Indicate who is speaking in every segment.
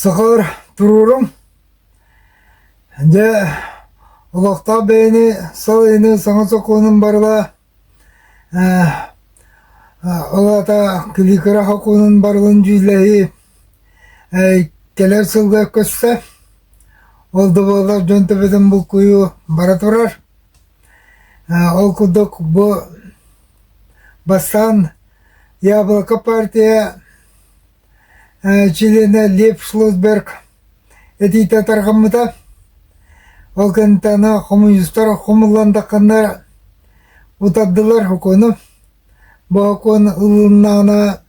Speaker 1: Сахалар туруоруҥ Дьэ, олохтоох бэйэни салайыныы саҥа сокуонун барыла ол аата килиикара сокуонун барылын дьүүллэһии кэлэр сылга көстө. Ол да буоллар дьон төбөтүн булкуйуу бара турар. Ол курдук бу бастаан Яблоко партия чилиэнэ Лев Шлосберг этиитэ тарҕаммыта. Ол кэнниттэн хомуньуустар хомулландаххыннар утардылар укуону. Бу укуон ылыннаана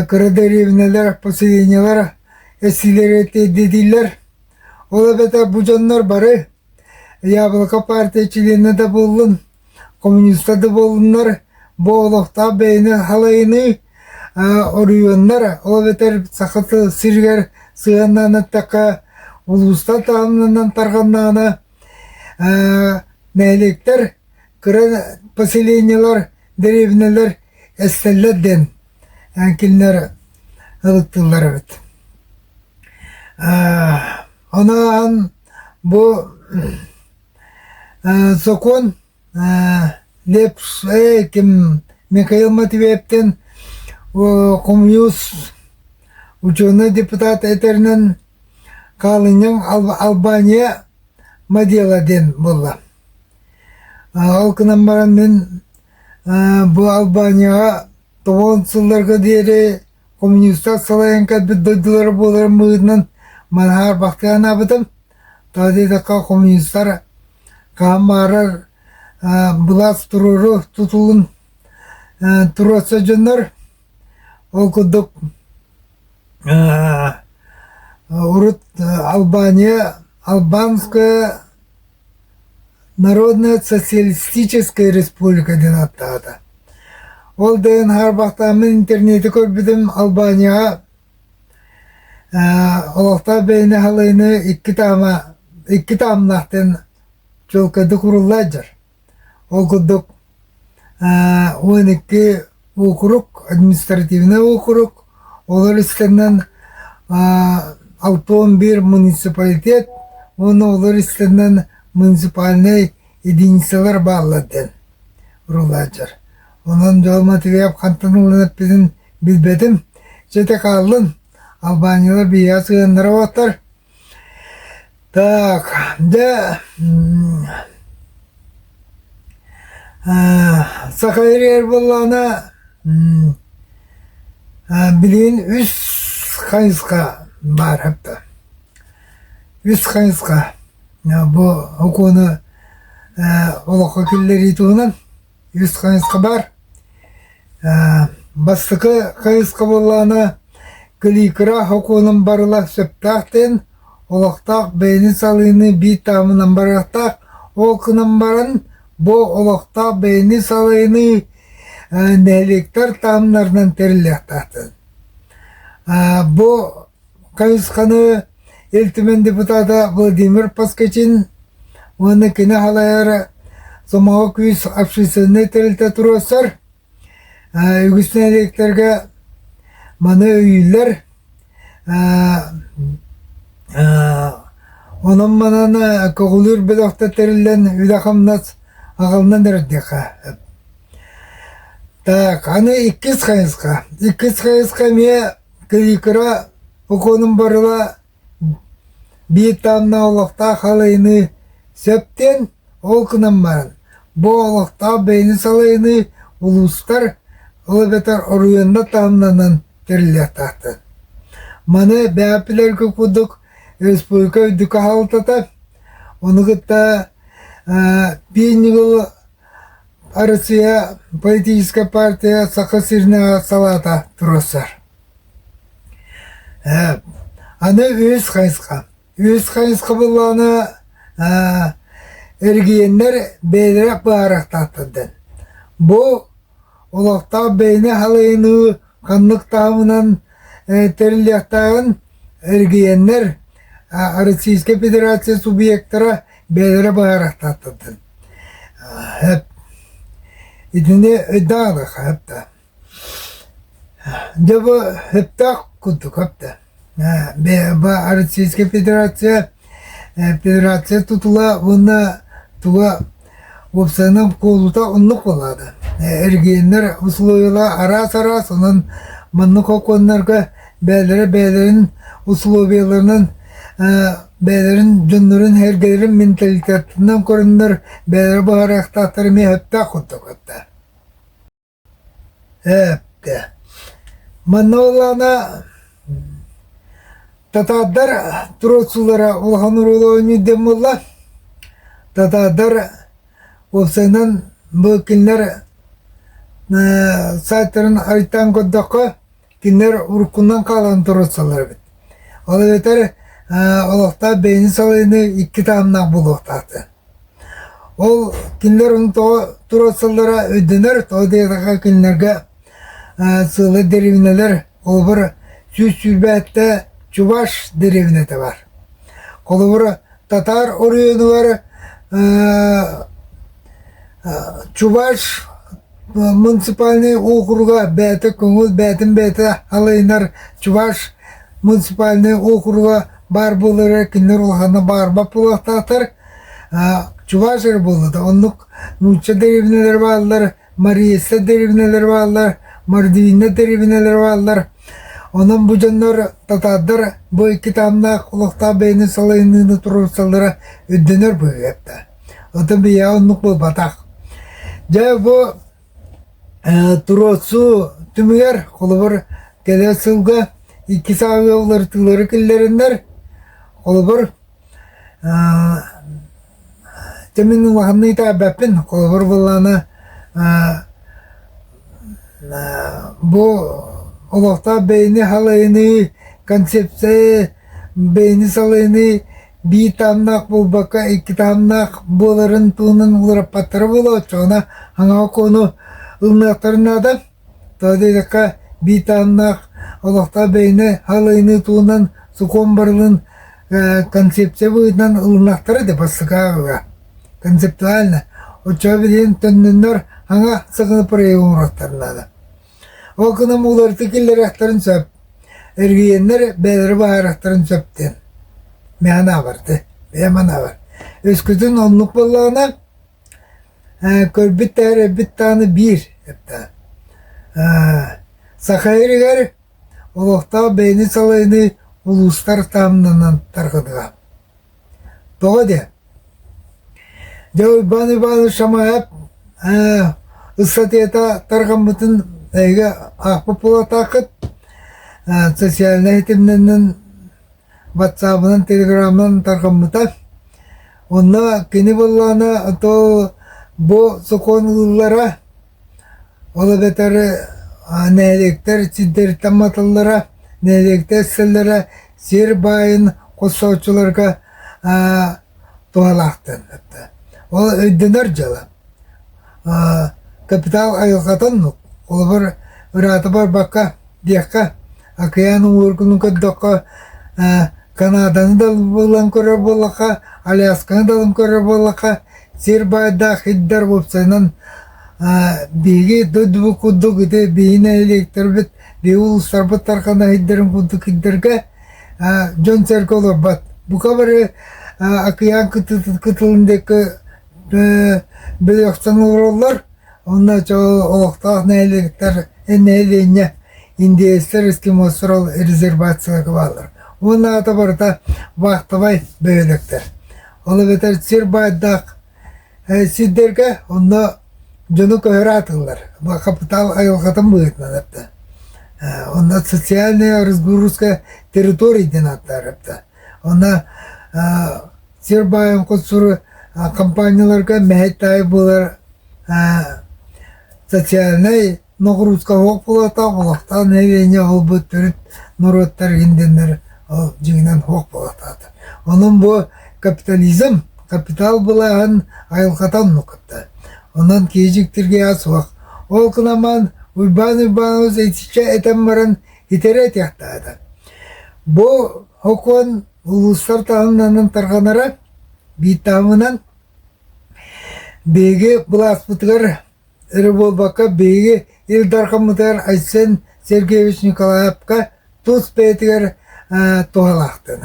Speaker 1: кыра дэриэбинэлэр, поселениелар эсиилэрэ тиэрдитиилэр. Ол эбэтэр бу дьоннор бары Яблоко партия чилиэнэ да буоллун, коммуниста да буоллуннар, бу олохтоох бэйэни халайыныы, оройуоннар, ол эбэтэр Саха сиригэр сыһыаннаан эттэххэ, улуустар таһымнарынан тарҕаннаҕына, нэһилиэктэр, кыра поселениелар, дэриэбинэлэр эстэллэр диэн кинилэр ылыттылар эбит. Ону ааһан Бу ээ сокуон ээ Лепсэй ким Михаил Матвеевтэн хомуйуус учуонай депутат этэринэн хаалынньаҥ Албания Мадела диэн буолла. Ол гынан баран мин бу Албанияҕа тобон сылларга диэри коммунистар салайан кэлбит дойдулара буоларын быһыытынан манааҕар бахтыы анаабытым. Тоҕо диэтэххэ, коммунистар хаһан баарар былаас туруору тутулун туруорса дьоннор ол курдук урут Албания Албанская Народно-социалистическай республика диэн ааттаата. Ол да иһин хаарбахтааммын интернети көрбүтүм Албанияҕа олохтоох бэйэни халыыны икки таама икки таамнаах диэн чуолкайдык уруллаат дьар. Ол курдук уон икки уокурук, административнай уокурук, олор истэннэн Алтон биир муниципалитет уонна олор истэннэн муниципальнай единицалар бааллар диэн уруулааччылар. Онон дьон матырыйаал хантан ылан эппитин билбэтим. Дьэ ити хааллын, албаанньылар биһиэхэ сыһыаннара уоттар Так, дэ саха ириэр буоллаҕына билигин үс хайысха баар үс хайысха бу окуону олоххо киллэрии туһунан үс хайысха баар. Бастакы хайысха буоллаҕына кэлиикара окуонун барыла сөптөөх диэн олохтоох бэйэни салыыны биир таамынан барыахтаах. Ол гынан баран бу олохтоох бэйэни салыыныы нэһилиэктэр таамнарынан тэриллиэхтээхтэр. Бу хайысханы Ил Түмэн депутата Владимир Поскачин уонна кини халайар Сомоҕо күүс общественнай тэрилтэ туруорсар үгүс нэһилиэктэргэ маны өйүүллэр. Онон манан көҕүлүүр бөлөхтө тэриллэн үлэ-хамнас аҕалынан эрдиэхэ. Так, аны иккис хайысха. Иккис хайысха эмиэ Кыйыкыра укуонун барыла биир тааннаах олохтоох халайыныы сөп диэн, ол гынан баран, бу олохтоох бэйэни салайыныы улуустар ол эбэтэр оройуоннар таһымнарынан тэриллиэхтээхтэр. Маны бэйэ билэргэ курдук республика үрдүкү хаһалтата, ону кытта э, биир ньыгыл Арассыыйа политическай партия Саха сиринээҕи салаата туруорсар. Ээ, аны үһүс хайысха. Үһүс хайысха буоллаҕына аа эрэгийиэннэр бэйэлэрэ баара тахтардын. Бу олохтоох бэйэни халайыныы Ханнык таабынан тэриллиэхтээҕин эргийэннэр, Российскай Федерация субъектара бэйэлэрэ быһаарыахтаахтар. Итини өйдөөх да. Дьэ бу өптөөх курдук да. Российская Федерация Федерация тутула уонна туга уопсайынан куолута оннук буолаата. Эргиэннэр усулуобуйалара араас-араас онон маннык окуоннарга бэйэлэрэ бэйэлэрин усулуобуйаларынан бэйэлэрин дьоннорун эргэлэрин менталитетынан көрөннөр бэйэлэрэ быһаарыахтаахтара эмиэ сөптөөх курдук этэ. Ээппэ, манылана татардар туруорсуулара улахан оруолу оонньуйда буолла. Татардар уопсайынан бу кинилэр саайтарын арыйтаан көрдөххө Кинилэр уруккунан хаалан туруорсаллар эбит. Ол эбэтэр олохтоох бэйэни салайыныы икки таһымнаах буолуохтаахтар. Ол кинилэр ону тоҕо туруорсаллара өйдөнөр, тоҕо диэтэххэ кинилэргэ сыылы деревнэлэр холобур сүүс сүүрбээттэ чуваш деревнэтэ бар. Холобур татаар оройуонугар чуваш Муниципальнай округа бэйэтэ көҥүл бэйэтин бэйэтэ алайынар чуваш муниципальнай округа баар буолар эрэ кинилэр улаханна баарбат буолуохтаахтар чуваш эрэ буолла да оннук нуучча дэриэбинэлэрэ бааллар мариесса дэриэбинэлэрэ бааллар мордвина дэриэбинэлэрэ бааллар онон бу дьоннор татаардар бу икки таһымнаах олохтоох бэйэни салайыныыны туруорсаллара өйдөнөр быһыыга Отон бия оннук буолбатах. Дьэ бу э, туруотсуу түмүгэр холобур кэлэ сылга икки сааһы уларытыылары киллэриннэр холобур э, темин улаханный таабаппин холобур былаана э, бу олохтоох бэйини халайыныы концепция бэйини салайыныы биир таһымнаах буолбакка икки таһымнаах буоларын туһунан уларыппаттара буолуоҕа ону хаҥа окуону ылыныахтарын наада тоҕо диэтэххэ биир таһымнаах олохтоох бэйэни халайыныы туһунан сокуон барылын концепция быһыытынан ылынахтара да бастакы ааҕыга концептуально оччоҕо билигин төннөннөр хаҥа сакыны проект оҥоруохтара наада Ол гынан уларытыы киллэриэхтэрин сөп, эргийэннэр бэйэлэрэ быһаарыахтарын сөп диэн. Мэ анаабар ты, бэйэм анаабар. Өскөтүн оннук буоллаҕына, э, көрбүт даһар эбит даҕаны биир эптаа. Э, Саха Иригэр олохтоох бэйэни салайыныы улуустар таамнанан тарҕатыга. Тоҕо диэ? Дьэ Уйбаан Иванович Шамаев ээ ыстатыйата тарҕаммытын эйиги аахпыт буолуохтааххыт. Э социальнай ситимнэринэн ватсабынан телеграмынан тарҕаммыта. Онно кини буоллаҕына то бу сокуон ылыллара Ол эбэтэр нэһилиэктэр сирдэриттэн матыллара, нэһилиэктэр сэллэрэ сир баайын хосчооччуларга туһалаахтар. Ол өйдөнөр дьыала. Капитал айылҕатын холобур ыраата барбакка диэххэ Океан уургунун көрдөххө, Канаданы да булан көрөр буоллахха, Алясканы далан көрөр буоллахха, сир баайдаах иһдэр уопсайынан биһиги дойдубут курдук ити биһи нэһилиэктэрбит, биһи улуустарбыт тарҕана иһдэрин курдук иһдэргэ дьон-сэргэ олорбот. Бука бары океан кытылын диэки бөлөхтөн олороллор, Уонна чэ олохтоох нэһилиэктэр нэһилиэнньэ индеецтэр эскимостар ол резервацияга бааллар. Уонна аата барыта вахтовай бөһүөлэктэр. Ол эбэтэр сир баайдаах э, сирдэргэ онно дьону көһөрө атыллар. Хапытаал айылҕатын быһыытынан эппитэ. Э, Онно социальная разгрузка территорий диэн ааттаабыта. Онно Сирбаевкут-Сур компанияларга мэһэйт аайы буолар социальнай ногрузкаһуох буолатаах олохтоох нэһилиэнньэ олбут төрүт норуоттар иһиндэннэр ол дьиҥинэн хуох буолатаат. Онон бу капитализм, капитал былаһын айылҕатан нукутта. Онон киэжиктирге ас суох. Ол кынаман Уйбаан Уйбаанабыс итиччэ этэн баран итэрэ этиэхтээҕэ бу окуон улуустар таһымнанан тарҕанара бииртаамынан биһиги былааспытыгар эрэ буолбакка биһиги Ил Дархаммытыгар Айсен Сергеевич Николаевка тус бэйэтигэр туһалаахтыын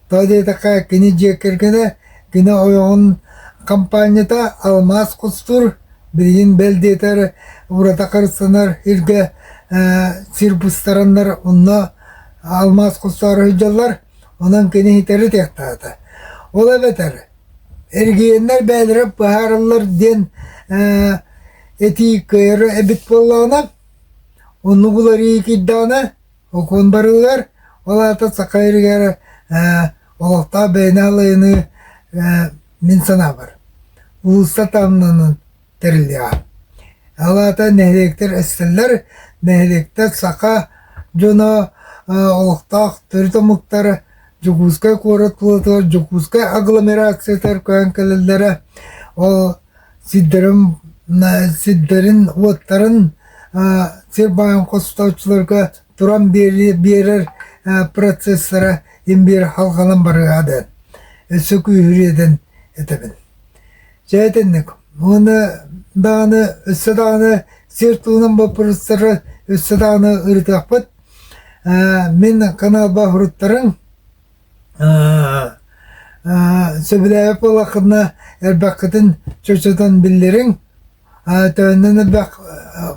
Speaker 1: Тоҕо диэтэххэ, кини дьиэ кэргэнэ, кини ойоҕун хампаанньата алмаас кустуур, билигин бэл диэтэр урата харыстанар сиргэ сир быстараннар онно алмаас кустаары сылдьаллар, онон кини иһитэр ытыахтаата. Ол эбэтэр эргийэннэр бээлэрэ быһаарыллар диэн этии кыайара эбит буоллаҕына, оннук уларыы киирдэҕинэ Окуун барылар, ол аата саха эригэр э, олохтоох бэйэни алайыныы э, мин санаабар уулусса таамнынын тэриллиэҕэ. Ол аата нэһилиэктэр эстэллэр, нэһилиэктэр саха дьоно э, олохтоох төрүт омуктар Дьокуускай куорат плотугар Дьокуускай агломерациятыгар көһөн кэлэллэрэ. Ол сирдэрин сирдэрин уоттарын сир баайын хостооччуларга туран биэрэр процесстара им биэрэр халҕанан барыа дээн өссө күүһүрүө дээн этэбин чэ итинник уонна даҕаны өссө даҕаны сир туһунан боппуруостары өссө даҕаны ырытыахпыт мин каналба уруттарын сөбүлээбит буоллаххына элбэххитин чочутан биллириҥ төннөн элбэх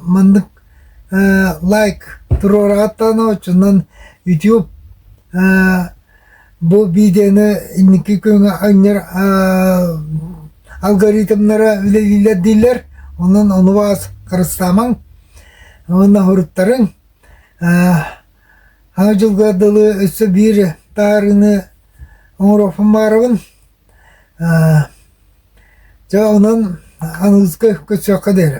Speaker 1: маннык лайк туруораҕыттан очунан ютуб бу видеоны инники күҥҥэ анньар алгоритмнара үлэлииллэр дииллэр онон ону баас харыстаамаҥ уонна соһуруттарыҥ Ха дьылга дылы өссө биир таарыыны оҥоруохпун баҕарабын. Дьэ онон аныгыскы көрсүөххэ диэри.